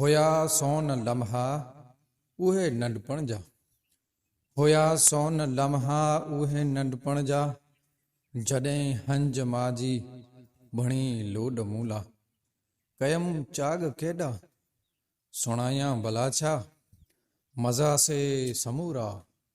هيا سون لمحا اهي ننڍپڻ جا. هيا سون لمحا اهي ننڍپڻ جا، جڏهن هنج ماجي بڻي لوڏ مون لا. ڪيم چاڳ ڪيڏا، سڻايان ڀلا ڇا، مزا سي سمورا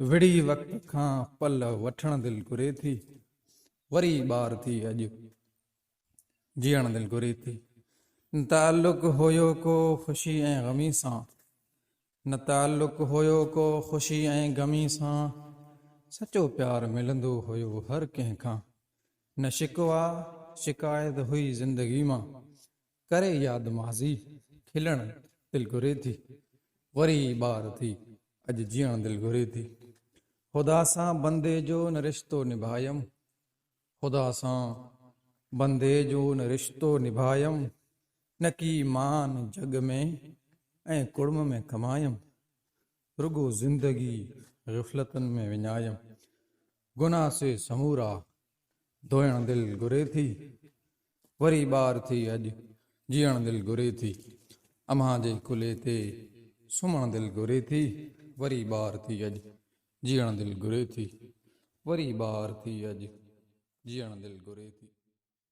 وڙهي وقت کان پل وٺڻ دل گهري ٿي، وري ٻار ٿي اڄ جيئڻ دل گهري ٿي. نه تعلق هيو ڪو خوشي ۽ غمي سان، نه تعلق هيو ڪو خوشي ۽ غمي سان، سچو پيار ملندو هيو هر ڪنهن کان، نه شڪوا شڪايت هئي زندگي مان، ڪري ياد ماضي کلڻ دل گهري ٿي وري ٻار ٿي اڄ جيئڻ دل گهري ٿي خدا سان بندي جو نه رشتو نڀايم خدا سان بندي جو نه رشتو نڀايم نه ڪي مان جڳ ۾ ۽ ڪڙم ۾ ڪمايم رڳو زندگي غفلتن ۾ وڃايم گناھ سي سمورا ڌوئڻ دل گهري ٿي وري ٻار ٿي اڄ جيئڻ دل گهري ٿي امها جي ڪلهي تي سمهڻ دل گهري ٿي وري ٻار ٿي اڄ جيئڻ دل گهري ٿي وري ٻار ٿي اڄ جيئڻ دل گهري ٿي.